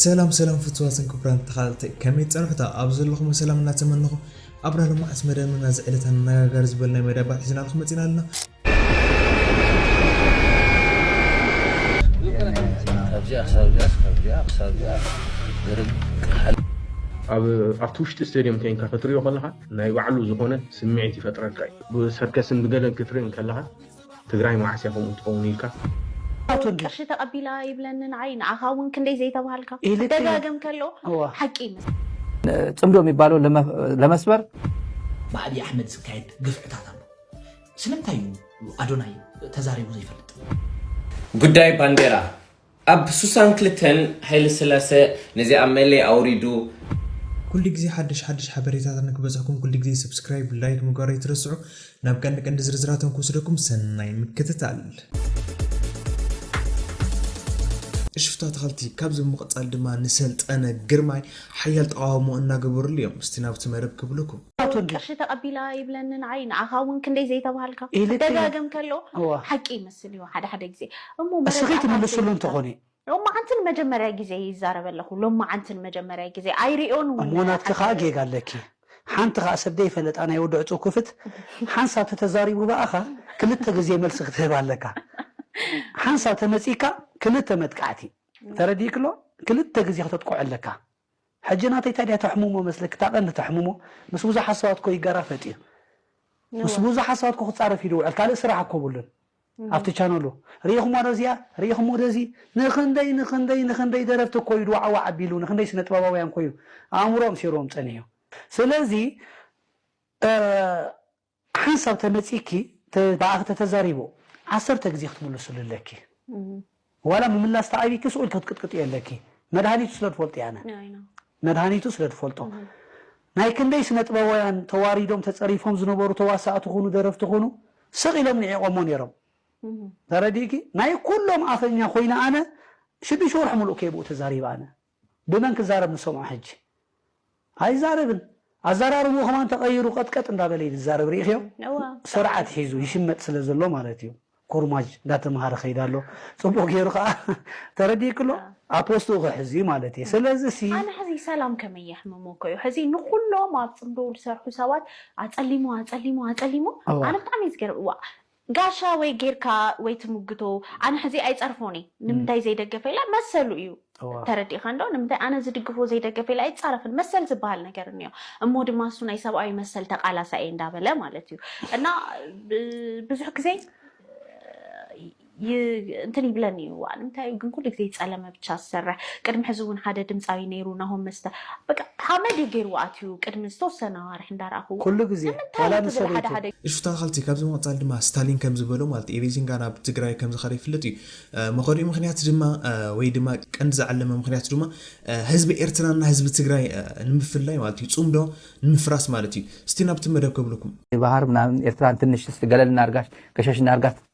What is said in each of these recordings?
ሰላም ሰላም ፍትዋትን ክቡራን ተኻታተልቲ ከመይ ትጸንሑታ ኣብ ዘለኹሞ ሰላም እናተመነኹ ኣብና ሎማዓንቲ መደብና ናዚ ዕለት ኣነጋጋሪ ዝበል ናይ መዳባት ሒዝናልኩም መጺና ኣለና ካብዚኣ ክሳብ እዚኣ ካብዚኣ ክሳብ እዚኣ ዝርግ ሓል ኣብ ኣብቲ ውሽጢ ስቴድየም ኮንካ ክትሪኦ ከለካ ናይ ባዕሉ ዝኮነ ስምዒት ይፈጥረልካ እዩ ብሰርከስን ብገለን ክትርኢ ከለካ ትግራይ መዓስ እያ ከምኡ ትከውን ኢልካ። ቅርሺ ተቀቢላ ይብለኒ ንዓይ ንዓካ እውን ክንደይ ዘይተብሃልካ ክደጋገም ከሎ ሓቂ ይመስል። ፅምዶ ሚባለው ለመስበር። ብኣብይ ኣሕመድ ዝካየድ ግፍዕታት ኣሎ ስለምንታይ እዩ ኣዶናይ ተዛሪቡ ዘይፈልጥ? ጉዳይ ባንዴራ ኣብ ሱሳን ክልተን ሃይለስላሰ ነዚኣ መሌ ኣውሪዱ። ኩሉ ግዜ ሓድሽ ሓድሽ ሓበሬታታት ንክበጽሕኩም ኩሉ ግዜ subscribe like ምግባር ኣይትረስዑ ናብ ቀንዲ ቀንዲ ዝርዝራቶም ክውስደኩም ሰናይ ምክትታል። ሽፍታ ተኸልቲ ካብዚ ብምቕጻል ድማ ንሰልጠነ ግርማይ ሓያል ተቓውሞ እናገበርሉ እዮም እስቲ ናብቲ መደብ ክብልኩም ቅርሺ ተቀቢላ ይብለኒ ንዓይ ንዓኻ እውን ክንደይ ዘይተብሃልካ ደጋግም ከሎ ሓቂ ይመስል። ዝመስል እዩ ሓደ ሓደ ግዜ እሞ እስኺ መረዳእታ ትምልስሉ እንተ ዘይብልካ። ኾነ። ሎማዓንቲ ንመጀመርያ ግዜ ይዛረብ ኣለኹ ሎማዓንቲ ንመጀመርያ ግዜ ኣይሪኦን እሞ ውን ናትኪ ከኣ ሓንቲ። ጌጋ ኣለኪ ሓንቲ ከኣ ሰብ ደይፈለጣ ናይ ወዲ ዕጹው ክፍት ሓንሳብ ተተዛሪቡ በኣኻ ክልተ ግዜ መልሲ ክትህብ ኣለካ ሓንሳብ ተመጺካ ክልተ መጥቃዕቲ ተረዲእኪ ኣሎ ክልተ ግዜ ክተጥቅዖ ኣለካ ሕጂ ናተይ ታዲያ ተሕምሞ መስለኪ እታ ቀንዲ ተሕምሞ ምስ ብዙሓት ሰባት እኮ ይጋራ ፈጢሩ ምስ ብዙሓት ሰባት እኮ ክጻረፍ ኢዩ ዝውዕል ካልእ ስራሕ እኮ የብሉን ኣብቲ ቻነሉ ርኢኽሞ ዶ እዚኣ ርኢኽሞ ዶ እዚ ንኽንደይ ንኽንደይ ንኽንደይ ደረፍቲ እኮ ኢዩ ድዋዕዋዕ ኣቢሉ ንኽንደይ ስነ ጥበባውያን እኮ ኢዩ ኣእምሮኦም ሰይርዎም ጸኒሑ ስለዚ ሓንሳብ ተመጺኪ ብኣኺ ተተዛሪቡ ዓሰርተ ግዜ ክትምልስሉ ኣለኪ ዋላ ምምላስ ተኣቢኪ ስኡል ከትቅጥቅጥዮ ኣለኪ መድሃኒቱ ስለ ትፈልጥዮ ኣነ መድሃኒቱ ስለ ትፈልጦ ናይ ክንደይ ስነጥበባውያን ተዋሪዶም ተጸሪፎም ዝነበሩ ተዋሳእቲ ኩኑ ደረፍቲ ኩኑ ስቕ ኢሎም ንዒቖሞ ነይሮም ተረዲእኪ ናይ ኩሎም ኣፈኛ ኮይነ ኣነ ሽዱሽተ ወርሒ ሙሉእ ከይብኡ ተዛሪበ ኣነ ብመን ክዛረብ ንሰምዖ ሕጂ? ኣይዛረብን። ኣዛራርብኡ ከማን ተቀይሩ ቀጥቀጥ እንዳበለ እዩ ዝዛረብ ሪኢክዮ ሰርዓት ሒዙ ይሽመጥ ስለ ዘሎ ማለት እዩ ኮርማጅ እንዳተምሃረ ከይድ ኣሎ ጽቡቅ ጌሩ ከኣ ተረዲእኪ ኣሎ ኣብ ፖስትኡ ክሕዝ እዩ ማለት እየ ስለዚ ሲ ኣነ ሕዚ ሰላም ከመይ የሕምሞ እኮ እዩ ሕዚ ንኩሎም ኣብ ጽምዶ ዝሰርሑ ሰባት ኣጸሊሙ ኣጸሊሙ ኣጸሊሙ ኣነ ብጣዕሚ እዩ ዝገርም ዋእ ጋሻ ወይ ጌርካ ወይ ትምግቶ ኣነ ሕዚ ኣይጸርፎን እየ ንምንታይ ዘይደገፈ ኢላ መሰሉ እዩ ተረዲእካ እንዶ ንምንታይ ኣነ ዝድግፎ ዘይደገፈ ኢላ ኣይጻረፍን መሰል ዝብሃል ነገር እንዮ እሞ ድማ እሱ ናይ ሰብኣዊ መሰል ተቃላሳይ እየ እንዳበለ ማለት እዩ እና ብዙሕ ግዜ እንትን ይብለኒ እዩ ዋእ ንምንታይ እዩ ግን ኩሉ ግዜ ይጸለመ ብቻ ዝሰርሕ ቅድሚ ሕዚ እውን ሓደ ድምፃዊ ነይሩ ናሆም መስተ በቃ ሓመድ እዩ ገይርዎ ኣትዩ ቅድሚ ዝተወሰነ ኣዋርሕ እንዳረኣክዎ ኩሉ ግዜ ንምንታይ ዋላ እቲ ብሓደ ንሰበይቱ። ሓደ እሺ ተካታተልቲ ካብዚ ብምቅጻል ድማ ስታሊን ከም ዝበሎ ማለት እዩ ኤሪዚንጋ ናብ ትግራይ ከም ዝከደ ይፍለጥ እዩ መከዲኡ ምክንያት ድማ ወይ ድማ ቀንዲ ዝዓለመ ምክንያቱ ድማ ህዝቢ ኤርትራ እና ህዝቢ ትግራይ ንምፍላይ ማለት እዩ ጽምዶ ንምፍራስ ማለት እዩ እስቲ ናብቲ መደብ ከብሉኩም። ባህር ምናምን ኤርትራን ትንሽ እስቲ ገለል እናርጋሽ ገሸሽ እናርጋት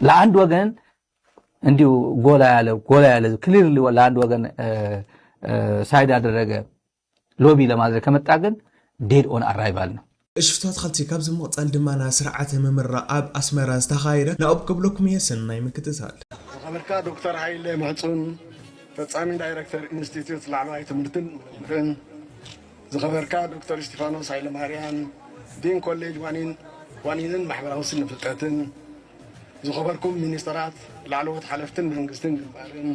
ለአንድ ወገን እንዲሁ ጎላ ያለ ጎላ ያለ ክሊርሊ ለአንድ ወገን ሳይድ ያደረገ ሎቢ ለማድረግ ከመጣ ግን ዴድ ኦን አራይቫል ነው። እሽፍቶ ኣትኸልቲ ካብዚ ምቕጻል ድማና ስርዓተ ምምራቕ ኣብ ኣስመራ ዝተኻየደ ናኡብ ክብለኩም እየ ሰናይ ምክትታል። ዝኸበርካ ዶክተር ሃይለ ምሕጹን ፈጻሚ ዳይረክተር ኢንስቲትዩት ላዕለዋይ ትምህርትን ምርምርን፣ ዝኸበርካ ዶክተር እስቲፋኖስ ሃይለማርያም ዲን ኮሌጅ ዋኒንን ማሕበራዊ ስነ ፍልጠትን፣ ዝኸበርኩም ሚኒስተራት፣ ላዕለዎት ሓለፍትን መንግስትን ግንባርን፣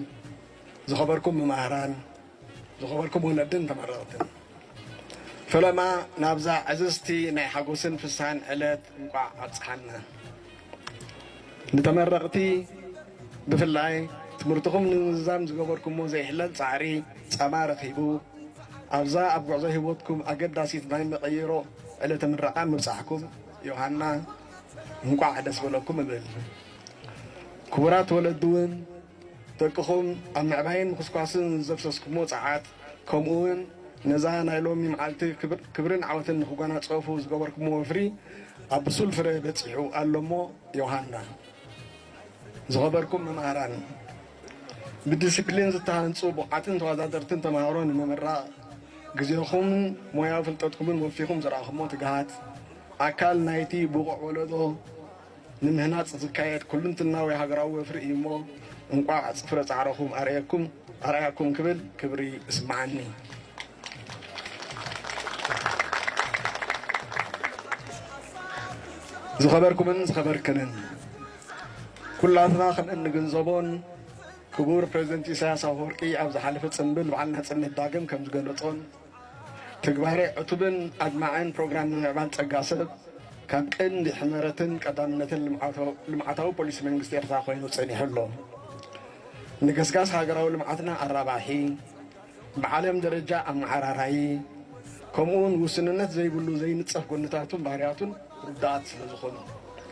ዝኸበርኩም መማህራን፣ ዝኸበርኩም ወነድን ተመረቕትን፣ ፈለማ ናብዛ ዕዝዝቲ ናይ ሓጎስን ፍስሃን ዕለት እንቋዕ ኣብጽሓና። ንተመረቕቲ ብፍላይ ትምህርትኹም ንምዝዛም ዝገበርኩሞ ዘይሕለል ጻዕሪ ጸማ ረኺቡ ኣብዛ ኣብ ጉዕዞ ህይወትኩም ኣገዳሲት ናይ መቐይሮ ዕለተ ምረቓ ምብጻሕኩም ዮሃና እንቋዕ ደስ በለኩም እብል። ክቡራት ወለዲ እውን ደቅኹም ኣብ ምዕባይን ምኹስኳስን ዘፍሰስኩሞ ጸዓት፣ ከምኡ'ውን ነዛ ናይ ሎሚ መዓልቲ ክብርን ዓወትን ንኽጓናጸፉ ዝገበርኩሞ ወፍሪ ኣብ ብሱል ፍረ በጺሑ ኣሎ'ሞ ዮሃና! ዝኸበርኩም መማህራን፣ ብዲሲፕሊን ዝተሃንጹ ብቑዓትን ተዋዳደርትን ተማሃሮ ንምምራቕ ግዜኹምን ሞያዊ ፍልጠትኩምን ወፊኹም ዘርኣኹሞ ትግሃት፣ ኣካል ናይቲ ብቑዕ ወለዶ፣ ንምህናጽ ዝካየድ ኩሉንትናዊ ሃገራዊ ወፍሪ እዩ እሞ እንቋዕ ፍረ ጻዕረኹም ኣርኣየኩም ኣርኣያኩም ክብል ክብሪ እስመዓኒ። ዝኸበርኩምን ዝኸበርክንን ኩላትና ከም እንግንዘቦን ክቡር ፕሬዚደንት ኢሳያስ ኣፈወርቂ ኣብ ዝሓለፈ ፅምብል በዓል ናፅነት ዳግም ከም ዝገለፆን ትግባረ ዕቱብን ኣድማዕን ፕሮግራም ምምዕባል ጸጋ ሰብ ካብ ቀንዲ ሕመረትን ቀዳምነትን ልምዓታዊ ፖሊሲ መንግስቲ ኤርትራ ኮይኑ ጸኒሑ ኣሎ። ንገስጋስ ሃገራዊ ልምዓትና ኣራባሒ፣ ብዓለም ደረጃ ኣመዓራራዪ፣ ከምኡ'ውን ውስንነት ዘይብሉ ዘይንጸፍ ጎንታቱን ባህርያቱን ርዱኣት ስለዝኾኑ።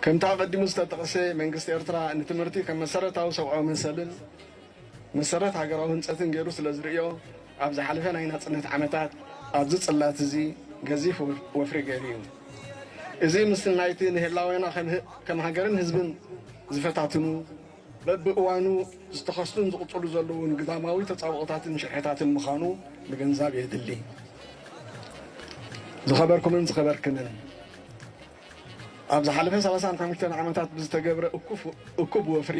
ከምቲ ኣቐዲሙ ዝተጠቕሰ፣ መንግስቲ ኤርትራ ንትምህርቲ ከም መሰረታዊ ሰብኣዊ መሰልን መሰረት ሃገራዊ ህንጸትን ገይሩ ስለዝርእዮ፣ ኣብ ዝሓለፈ ናይ ናጽነት ዓመታት ኣብዚ ጽላት እዚ ገዚፍ ወፍሪ ገይሩ እዩ። እዚ ምስ ናይቲ ንህላዌና ከም ሃገርን ህዝብን ዝፈታትኑ በብእዋኑ ዝተኸስቱን ዝቕጽሉ ዘለዉን ግዳማዊ ተጻብኦታትን ሽርሕታትን ምዃኑ ምግንዛብ የድሊ። ዝኸበርኩምን ዝኸበርክንን፣ ኣብ ዝሓለፈ ሰላሳን ሓሙሽተን ዓመታት ብዝተገብረ እኩብ ወፍሪ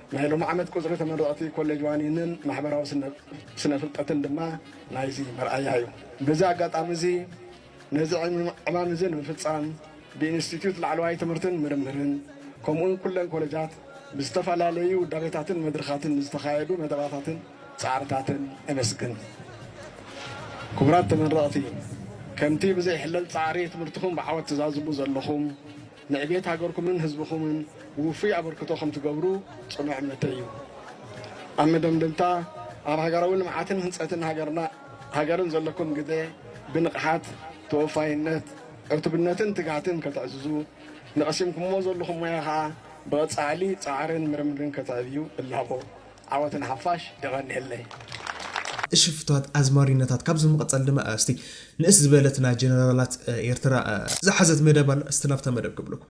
ናይ ሎሚ ዓመት ቁጽሪ ተመረቕቲ ኮሌጅ ዋኒንን ማሕበራዊ ስነ ፍልጠትን ድማ ናይዚ መርኣያ እዩ። በዚ ኣጋጣሚ እዚ ነዚ ዕማም እዚ ንምፍጻም ብኢንስቲትዩት ላዕለዋይ ትምህርትን ምርምርን ከምኡውን ኩለን ኮሌጃት ብዝተፈላለዩ ውዳቤታትን መድርኻትን ንዝተኻየዱ መደባታትን ጻዕርታትን እምስግን። ክቡራት ተመረቕቲ ከምቲ ብዘይሕለል ጻዕሪ ትምህርትኹም ብዓወት ትዛዝሙ ዘለኹም፣ ንዕቤት ሃገርኩምን ህዝብኹምን ውፉይ ኣበርክቶ ከም ትገብሩ ጽኑዕ እምነተይ እዩ። ኣብ መደምደምታ፣ ኣብ ሃገራዊ ልምዓትን ህንጸትን ሃገርና ሃገርን ዘለኩም ግደ ብንቕሓት፣ ተወፋይነት፣ ዕቱብነትን ትግሃትን ከተዕዝዙ፣ ንቐሲምኩምዎ ዘለኹም ሞያ ከኣ ብቐጻሊ ጻዕርን ምርምርን ከተዕብዩ እላቦ። ዓወት ንሓፋሽ የቀንየለይ። እሺ ፍትዋት ኣዝማሪኖታት ካብዚ ብምቅጻል ድማ እስቲ ንእስ ዝበለት ናይ ጀነራላት ኤርትራ ዝሓዘት መደብ ኣላ እስቲ ናብታ መደብ ክብለኩም።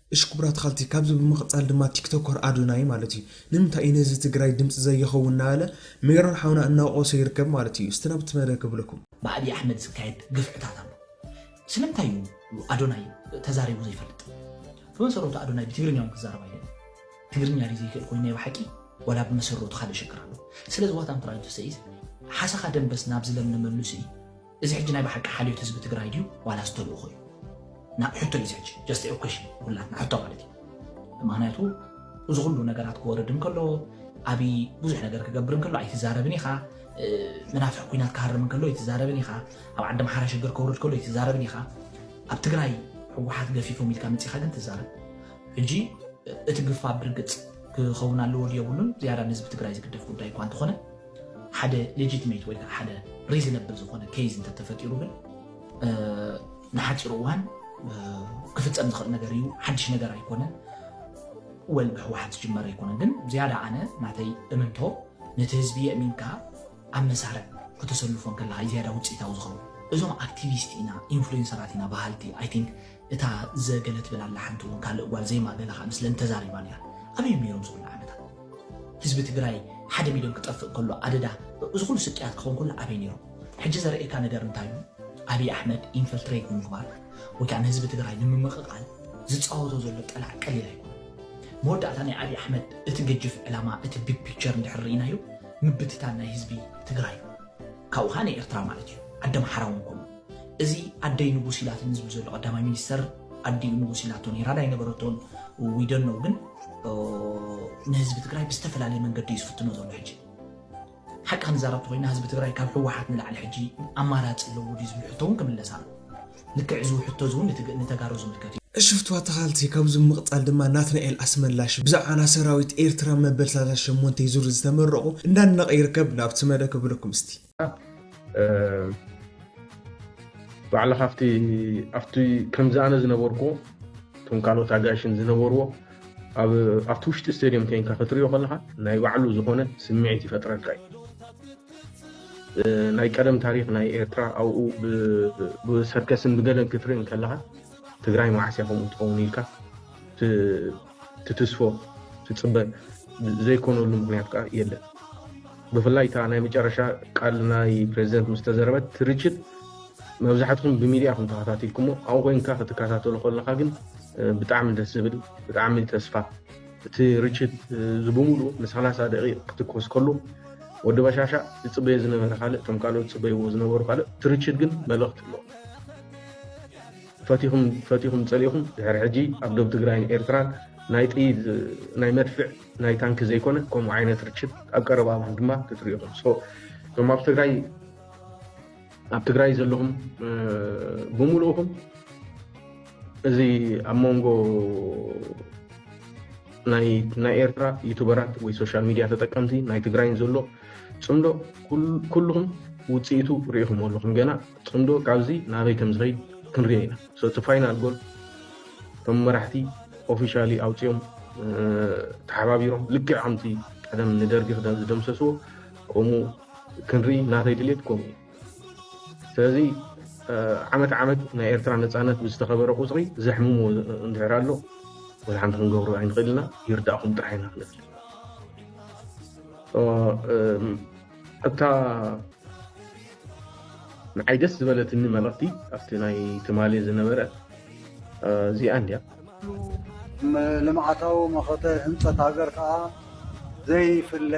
እሽ ክቡራት ኻልቲ ካብዚ ብምቅጻል ድማ ቲክቶከር ኣዶናይ ማለት እዩ ንምንታይ እዩ ንህዝቢ ትግራይ ድምጺ ዘይኸውን እናበለ ሜሮን ሓውና እናወቀሶ ይርከብ ማለት እዩ እስቲ ናብቲ መደብ ክብለኩም። ብኣቢ ኣሕመድ ዝካየድ ግፍዕታት ኣሎ ስለምንታይ እዩ ኣዶናይ ተዛሪቡ ዘይፈልጥ ብመሰረቱ ኣዶናይ ብትግርኛ ውን ክዛረብ ኣይደልን ትግርኛ ድዩ ዘይክእል ኮይኑ ናይ ብሓቂ ዋላ ብመሰረቱ ካልእ ሽግር ኣሎ ስለዚ ዋት ኣም ትራይንግ ቱ ሰይ ኢዝ ሓሰኻ ደምበስ ናብ ዝለምለመሉ ስኢ እዚ ሕጂ ናይ በሓቂ ሓልዮት ህዝቢ ትግራይ ድዩ ዋላስ ተልእኾ እዩ ናብ ሕቶ እዩ እዚ ሕጂ just a question ንኹላትና ሕቶ ማለት እዩ ምኽንያቱ እዚ ኩሉ ነገራት ክወርድ እንከሎ ኣብይ ብዙሕ ነገር ክገብር እንከሎ ኣይትዛረብን ኢኻ መናፍሕ ኩናት ክሃርም እንከሎ ኣይትዛረብን ኢኻ ኣብ ዓዲ ምሓራ ሽግር ከውርድ ከሎ ኣይትዛረብን ኢኻ ኣብ ትግራይ ህወሓት ገፊፎም ኢልካ መፂኻ ግን ትዛረብ ሕጂ እቲ ግፋ ብርግፅ ክኸውን ኣለዎ ድዮ የብሉን ዝያዳ ንህዝቢ ትግራይ ዝግደፍ ጉዳይ እኳ እንተኾነ ሓደ ሌጂትሜት ወይ ከዓ ሓደ ሪዝነብል ዝኾነ ኬዝ እንተተፈጢሩ ግን ንሓፂር እዋን ክፍፀም ዝኽእል ነገር እዩ። ሓድሽ ነገር ኣይኮነን። ወል ብህወሓት ዝጅመረ ኣይኮነን። ግን ዝያዳ ኣነ ናተይ እምንቶ ነቲ ህዝቢ የእሚንካ ኣብ መሳርዕ ከተሰልፎ ከለካ ዝያዳ ውፅኢታዊ ዝኸውን እዞም ኣክቲቪስት ኢና ኢንፍሉዌንሰራት ኢና በሃልቲ ኣይ ቲንክ እታ ዘ ገለ ትብል ኣላ ሓንቲ ውን ካልእ ጓል ዜማ ገለ ከኣ ምስለን ተዛሪባ ኔራ ኣበይ ዮም ኔሮም እዚ ኩሉ ዓመታት ህዝቢ ትግራይ ሓደ ሚልዮን ክጠፍእ ከሎ ኣደዳ እዚ ኩሉ ስቅያት ክኸውን ከሎ ኣበይ ኔሮም ሕጂ ዘርእየካ ነገር እንታይ ዩ ኣብይ ኣሕመድ ኢንፈልትሬት ንምግባር ወይ ከኣ ንህዝቢ ትግራይ ንምምቕቓል ዝጻወቶ ዘሎ ጠላዕ ቀሊል ኣይኮነን መወዳእታ ናይ ኣብይ ኣሕመድ እቲ ገጅፍ ዕላማ እቲ ቢግ ፒክቸር እንድሕር ርኢናዮ ምብትታን ናይ ህዝቢ ትግራይ ዩ ካብኡ ከኣ ናይ ኤርትራ ማለት ዩ ዓዲ ኣምሓራ ውን ከምኡ እዚ ኣደይ ንጉስ ኢላትኒ ዝብል ዘሎ ቀዳማይ ሚኒስተር ኣዲኡ ንጉስ ኢላቶ ነይራ ዳይ ነበረቶን ዊደኖ ግን ንህዝቢ ትግራይ ብዝተፈላለየ መንገዲ እዩ ዝፍትኖ ዘሎ ሕጂ ሓቂ ክንዛረብ ተኮይና ህዝቢ ትግራይ ካብ ህወሓት ንላዕሊ ሕጂ ኣማራፂ ኣለዎ ድዩ ዝብል ሕቶ እውን ክምለስ ኣሎ ልክዕ እዚ ሕቶ እዚ እውን ንተጋሩ ዝምልከት እዩ እሺ ፍትዋ ተኻልቲ ካብዚ ምቕጻል ድማ ናትናኤል ኣስመላሽ ብዛዕባ ና ሰራዊት ኤርትራ መበል ሰላሳ ሸሞንተይ ዙር ዝተመረቑ እንዳድነቐ ይርከብ ናብቲ መደብ ከብለኩም እስቲ። ባዕላ ካብቲ ኣብቲ ከምዚ ኣነ ዝነበርኩ እቶም ካልኦት ኣጋይሽን ዝነበርዎ ኣብቲ ውሽጢ ስቴድየም ኮንካ ክትሪኦ ከለካ ናይ ባዕሉ ዝኮነ ስምዒት ይፈጥረልካ እዩ ናይ ቀደም ታሪክ ናይ ኤርትራ ኣብኡ ብሰርከስን ብገለን ክትርኢ ከለካ ትግራይ መዓስ እያ ከምኡ ትኸውን ኢልካ ትትስፎ ትፅበ ዘይኮነሉ ምክንያት ከዓ የለን ብፍላይ እታ ናይ መጨረሻ ቃል ናይ ፕሬዚደንት ምስ ተዘረበት ትርችት መብዛሕትኩም ብሚድያ ከም ተኸታቲልኩሞ ኣብኡ ኮይንካ ክትከታተሉ ከለካ ግን ብጣዕሚ ደስ ዝብል ብጣዕሚ ተስፋ እቲ ርችት ዝብምሉ ንሰላሳ ደቂቕ ክትኮስ ከሉ ወዲ በሻሻ ዝፅበዮ ዝነበረ ካልእ እቶም ካልኦት ዝፅበይዎ ዝነበሩ ካልእ ትርችት ግን መልእኽቲ ኣለዎ ፈቲኹም ፈቲኹም ጸሊእኹም ድሕሪ ሕጂ ኣብ ዶብ ትግራይን ኤርትራን ናይ ጥይት ናይ መድፍዕ ናይ ታንኪ ዘይኮነ ከምኡ ዓይነት ርችት ኣብ ቀረባ እዋን ድማ ክትሪኡ ኢኹም ሶ እቶም ኣብ ትግራይ ኣብ ትግራይ ዘለኹም ብምሉእኹም እዚ ኣብ መንጎ ናይ ናይ ኤርትራ ዩቱበራት ወይ ሶሻል ሚድያ ተጠቀምቲ ናይ ትግራይን ዘሎ ጽምዶ ኩልኹም ውፅኢቱ ርኢኹም ኣለኹም ገና ፅምዶ ካብዚ ናበይ ከምዝኸይድ ክንሪኦ ኢና so እቲ ፋይናል ጎል እቶም መራሕቲ ኦፊሻሊ ኣውፂኦም ተሓባቢሮም ልክዕ ከምቲ ቀደም ንደርጊ ክዳን ዝደምሰስዎ ከምኡ ክንርኢ ናተይ ድሌት ከምኡ ስለዚ ዓመት ዓመት ናይ ኤርትራ ነፃነት ብዝተኸበረ ቁፅሪ ዘሕምሞ እንድሕር ኣሎ ወይ ሓንቲ ክንገብሮ ኣይንኽእል ኢና ይርዳእኹም ጥራሕ ኢና ክንብል እታ ንዓይ ደስ ዝበለትኒ መልእኽቲ ኣብቲ ናይ ትማሊ ዝነበረ እዚኣ እንድያ ልምዓታዊ መኸተ ህንፀት ሃገር ከዓ ዘይፍለ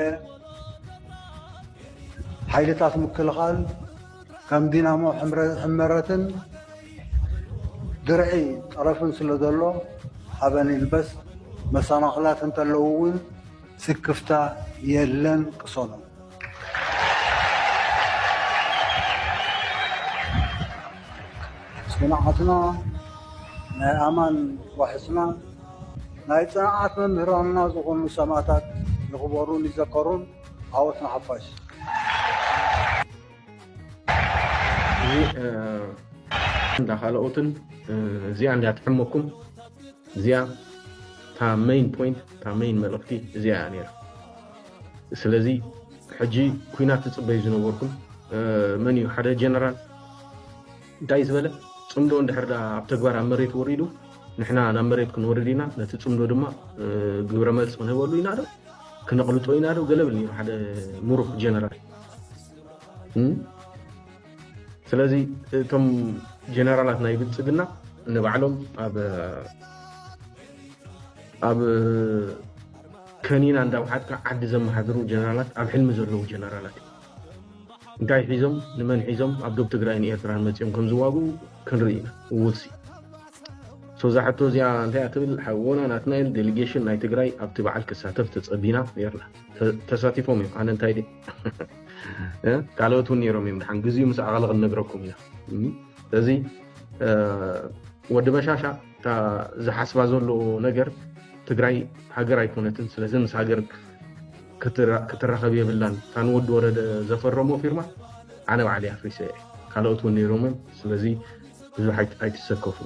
ሓይልታት ምክልኻል ከም ዲናሞ ሕመረትን ድርዒ ጠረፍን ስለ ዘሎ ሓበን ይልበስ መሰናኽላት እንተለዉ እውን ስክፍታ የለን ቅሰኑ። ፅንዓትና ናይ ኣማን ዋሕስና ናይ ፅንዓት መምህራንና ዝኾኑ ሰማእታት ይኽበሩን ይዘከሩን። ዓወት ንሓፋሽ! እዚ እንዳ ካልኦትን እዚኣ እንዳ ትሕመኩም እዚኣ እታ መይን ፖይንት እታ መይን መልእኽቲ እዚኣ እያ ነይራ። ስለዚ ሕጂ ኩናት ትፅበዩ ዝነበርኩም መን እዩ ሓደ ጀነራል እንታይ ዝበለ ፅምዶ እንድሕር ዳ ኣብ ተግባር ኣብ መሬት ወሪዱ ንሕና ናብ መሬት ክንወርድ ኢና ነቲ ፅምዶ ድማ ግብረ መልሲ ክንህበሉ ኢና ዶ ክነቕልጦ ኢና ዶ ገለ ብል ነይሩ ሓደ ሙሩኽ ጀነራል ስለዚ እቶም ጀነራላት ናይ ብልፅግና ንባዕሎም ኣብ ከኒና እንዳውሓጥካ ዓዲ ዘመሓድሩ ጀነራላት ኣብ ሕልሚ ዘለዉ ጀነራላት እዮም እንታይ ሒዞም ንመን ሒዞም ኣብ ዶብ ትግራይን ኤርትራን መፅኦም ከም ዝዋግኡ ክንርኢ ኢና ውልሲ ሶዛ ሕቶ እዚኣ እንታይ ትብል ሓወና ናትናኤል ዴሊጌሽን ናይ ትግራይ ኣብቲ በዓል ክሳተፍ ተፀቢና ነርና ተሳቲፎም እዮም ኣነ እንታይ ካልኦት እውን ነይሮም እዮም ድሓን ግዜኡ ምስ ኣኸለ ክንነግረኩም ኢና ስለዚ ወዲ በሻሻ ዝሓስባ ዘሎ ነገር ትግራይ ሃገር ኣይኮነትን ስለዚ ምስ ሃገር ክትራኸብ የብላን እታ ንወዲ ወረደ ዘፈረሞ ፊርማ ኣነ ባዕለ ኣፍሪሰ እየ ካልኦት እውን ነይሮም እዮም ስለዚ ብዙሕ ኣይትሰከፉ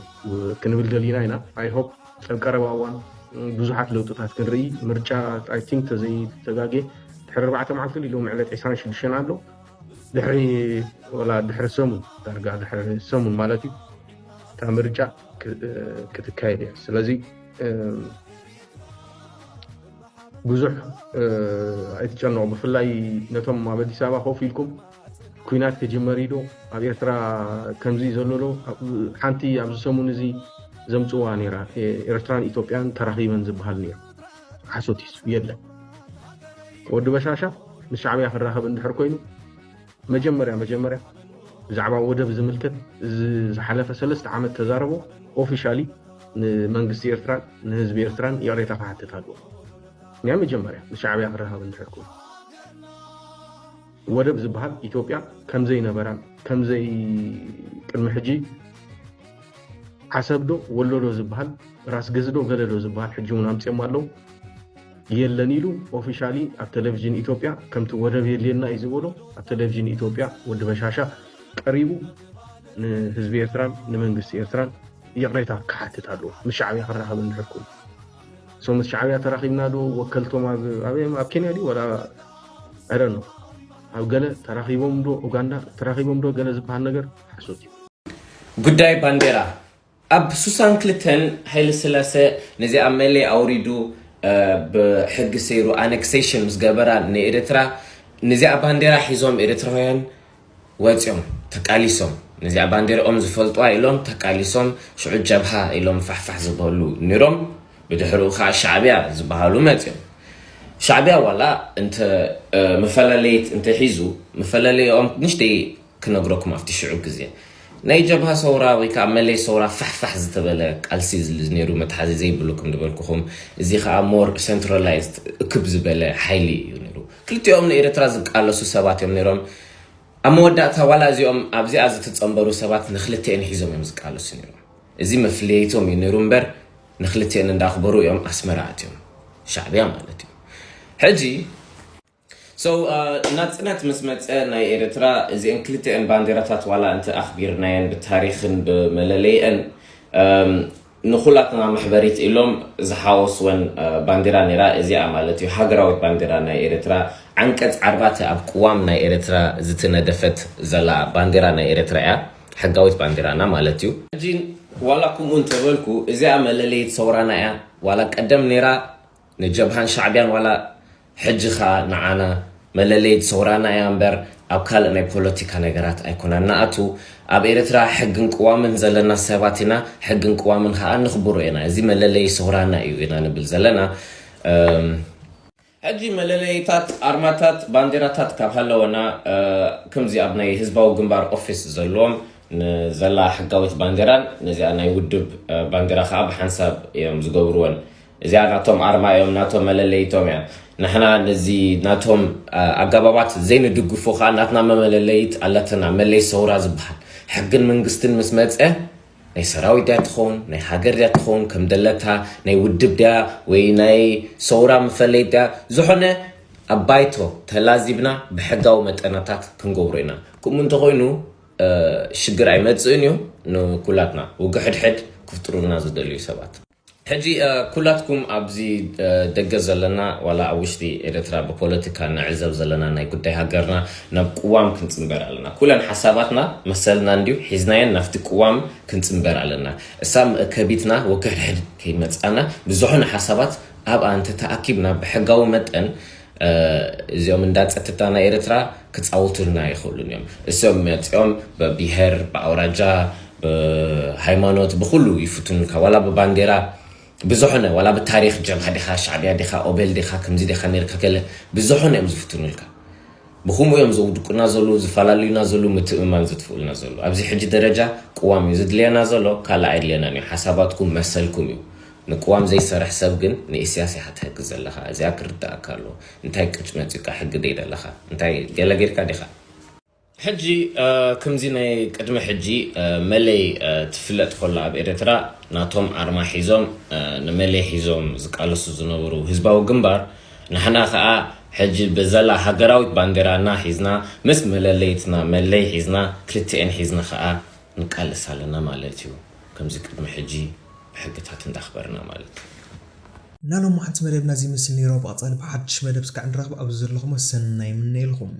ክንብል ደሊና ኢና ኣይሆፕ ኣብ ቀረባ እዋን ብዙሓት ለውጥታት ክንርኢ ምርጫ ኣይ ቲንክ ተዘይተጋጌ ድሕሪ ኣርባዕተ መዓልቲ ድዩ ሎሚ ዕለት 26 ኣሎ ድሕሪ ወላ ድሕሪ ሰሙን ዳርጋ ድሕሪ ሰሙን ማለት እዩ እታ ምርጫ ክትካየድ እያ ስለዚ ብዙሕ ኣይትጨነቑ ብፍላይ ነቶም ኣብ ኣዲስ ኣበባ ኮፍ ኢልኩም ኩናት ክጅመር እዩ ዶ ኣብ ኤርትራ ከምዚ ዘሎ ዶ ሓንቲ ኣብዚ ሰሙን እዚ ዘምጽዋ ነይራ ኤርትራን ኢትዮጵያን ተራኺበን ዝበሃል ነይሩ ሓሶት እዩ የለን ወዲ በሻሻ ምስ ሻዕብያ ክራኸብ እንድሕር ኮይኑ መጀመርያ መጀመርያ ብዛዕባ ወደብ ዝምልከት ዝሓለፈ ሰለስተ ዓመት ተዛረቦ ኦፊሻሊ ንመንግስቲ ኤርትራን ንህዝቢ ኤርትራን ይቕሬታ ክሓትት ኣለዎ ናይ መጀመርያ ንሻዕብያ ክራኸብ እንድሕር ኮይኑ ወደብ ዝብሃል ኢትዮጵያ ከምዘይነበራን ከምዘይ ቅድሚ ሕጂ ዓሰብዶ ወሎዶ ዝብሃል ራስገዝዶ ገለዶ ዝብሃል ሕጂ እውን ኣምፅኦም ኣለው የለን ኢሉ ኦፊሻሊ ኣብ ቴሌቭዥን ኢትዮጵያ ከምቲ ወደብ የድልየና እዩ ዝበሎ ኣብ ቴሌቭዥን ኢትዮጵያ ወዲ በሻሻ ቀሪቡ ንህዝቢ ኤርትራን ንመንግስቲ ኤርትራን ይቕሬታ ክሓትት ኣለዎ ምስ ሻዕብያ ክራኸብ እንድሕር ኮይኑ እሶም ምስ ሻዕብያ ተራኺብና ዶ ወከልቶም ኣበይ ኣብ ኬንያ ድዩ ወላ ዕረ ዶ ኣብ ገለ ተራኺቦም ዶ ኡጋንዳ ተራኺቦም ዶ ገለ ዝበሃል ነገር ሓሶት እዩ። ጉዳይ ባንዴራ ኣብ ሱሳን ክልተን ሃይለ ስላሰ ነዚ ኣብ መለይ ኣውሪዱ ብሕጊ ሰይሩ ኣነክሴሽን ምስ ገበራ ንኤርትራ ነዚኣ ባንዴራ ሒዞም ኤርትራውያን ወጺኦም ተቃሊሶም ነዚኣ ባንዴርኦም ዝፈልጡዋ ኢሎም ተቃሊሶም ሽዑ ጀብሃ ኢሎም ፋሕፋሕ ዝበሉ ኒሮም ብድሕርኡ ከኣ ሻዕብያ ዝበሃሉ መጺኦም ሻዕብያ ዋላ እንተ መፈላለየት እንተ ሒዙ መፈላለየኦም ንሽተይ ክነግረኩም ኣብቲ ሽዑ ግዜ ናይ ጀብሃ ሰውራ ወይ ከኣ መለይ ሰውራ ፋሕፋሕ ዝተበለ ቃልሲ ኔሩ መትሓዚ ዘይብሉ ከም ድበልኩኹም እዚ ከኣ ሞር ሰንትራላይዝድ እክብ ዝበለ ሓይሊ እዩ ኔሩ ክልቲኦም ንኤርትራ ዝቃለሱ ሰባት እዮም ነይሮም። ኣብ መወዳእታ ዋላ እዚኦም ኣብዚኣ ዝትጸንበሩ ሰባት ንክልቲኤን ሒዞም እዮም ዝቃለሱ ነይሮም። እዚ መፍለይቶም እዩ ነይሩ እምበር ንክልቲኤን እንዳኽበሩ እዮም ኣስመራ ኣትዮም። ሻዕብያ ማለት እዩ። ሕጂ። So ናጽነት ምስ መጸ ናይ ኤርትራ እዚኤን ክልቲኤን ባንዴራታት ዋላ እንተ ኣኽቢርናየን ብታሪኽን ብመለለይኤን ንኩላትና መሕበሪት ኢሎም ዝሓወስወን ባንዲራ ነይራ እዚኣ ማለት እዩ ሃገራዊት ባንዲራ ናይ ኤረትራ ዓንቀጽ ዓርባተ ኣብ ቅዋም ናይ ኤረትራ ዝትነደፈት ዘላ ባንዲራ ናይ ኤረትራ እያ ሕጋዊት ባንዲራና ማለት እዩ። ሕጂ ዋላ ክምኡ እንተበልኩ እዚኣ መለለይት ሰውራና እያ ዋላ ቀደም ነይራ ንጀብሃን ሻዕብያን ዋላ ሕጂ ከኣ ንዓና መለለይት ሰውራና እያ እምበር ኣብ ካልእ ናይ ፖሎቲካ ነገራት ኣይኮናን ንኣቱ ኣብ ኤረትራ ሕግን ቅዋምን ዘለና ሰባት ኢና ሕግን ቅዋምን ከኣ ነኽብሮ ኢና እዚ መለለዪ ሰውራና እዩ ኢና ንብል ዘለና እም ሕጂ መለለይታት ኣርማታት ባንዴራታት ካብ ሃለወና ክምዚ ኣብ ናይ ህዝባዊ ግንባር ኦፊስ ዘሎዎም ንዘላ ሕጋዊት ባንዴራን ነዚኣ ናይ ውድብ ባንዴራ ከኣ ብሓንሳብ እዮም ዝገብርወን እዚኣ ናቶም ኣርማ እዮም ናቶም መለለይቶም እያ ንሕና ነዚ ናቶም ኣገባባት ዘይንድግፎ ከዓ ናትና መመለለይት ኣለትና መለይ ሰውራ ዝበሃል ሕግን መንግስትን ምስ መፀ ናይ ሰራዊት ድያ ትኸውን ናይ ሃገር ድያ ትኸውን ከም ደለታ ናይ ውድብ ድያ ወይ ናይ ሰውራ መፈለይ ድያ ዝኾነ ኣብ ባይቶ ተላዚብና ብሕጋዊ መጠናታት ክንገብሮ ኢና ከምኡ እንተኮይኑ ሽግር ኣይመፅእን እዩ ንኩላትና ውግሕድሕድ ክፍጥሩልና ዝደልዩ ሰባት ሕጂ ኩላትኩም ኣብዚ ደገ ዘለና ዋላ ኣብ ውሽጢ ኤረትራ ብፖለትካ ንዕዘብ ዘለና ናይ ጉዳይ ሃገርና ናብ ቁዋም ክንጽንበር ኣለና ኩለን ሓሳባትና መሰልና እንድዩ ሒዝናየን ናፍቲ ቁዋም ክንጽንበር ኣለና እሳብ መእከቢትና ወከሕድሕድ ከይመጻና ብዙሕን ሓሳባት ኣብኣ እንተተኣኪብና ብሕጋዊ መጠን እዚኦም እንዳ ጸትታ ናይ ኤርትራ ክጻውቱልና ኣይክእሉን እዮም እሶም መጺኦም በቢሄር ብኣውራጃ ብሃይማኖት ብኩሉ ይፍትኑልካ ዋላ ብባንዴራ ብዝሖነ ዋላ ብታሪኽ ጀብሃ ዲኻ ሻዕብያ ዲኻ ኦቤል ዲኻ ክምዚ ዲኻ ኔርካ ገለ ብዝሖነ እዮም ዝፍትኑልካ ብኩምኡ እዮም ዘውድቁና ዘሉ ዝፋላልዩና ዘሉ ምትእምማን ዘጥፍኡልና ዘሉ ኣብዚ ሕጂ ደረጃ ቅዋም እዩ ዝድልየና ዘሎ ካልእ ኣይድልየናን እዩ ሓሳባትኩም መሰልኩም እዩ ንቅዋም ዘይሰርሕ ሰብ ግን ንኢስያስ ኢካ ትህግዝ ዘለካ እዚኣ ክርደኣካ ኣለዎ እንታይ ቅጭ መጺካ ሕጊ ደይ ደለካ እንታይ ገለ ገርካ ዲካ። ሕጂ ክምዚ ናይ ቅድሚ ሕጂ መለይ ትፍለጥ ኮላ ኣብ ኤረትራ ናቶም ኣርማ ሒዞም ንመለይ ሒዞም ዝቃለሱ ዝነበሩ ህዝባዊ ግንባር ናሕና ካኣ ሕጂ ብዘላ ሃገራዊት ባንዴራና ሒዝና ምስ መለለይትና መለይ ሒዝና ክልቲኤን ሒዝና ካኣ ንቃለስ ኣለና ማለት እዩ ከምዚ ቅድሚ ሕጂ ሕግታት እንዳኽበርና ማለት እዩ። ናሎማዓንቲ መደብና እዚ ይመስል ነይሩ ኣብ ቐፃሊ ብሓዱሽ መደብ እስካዕ ንራኽብ ኣብዚ ዘለኹሞ ሰናይ ይምነየልኹም።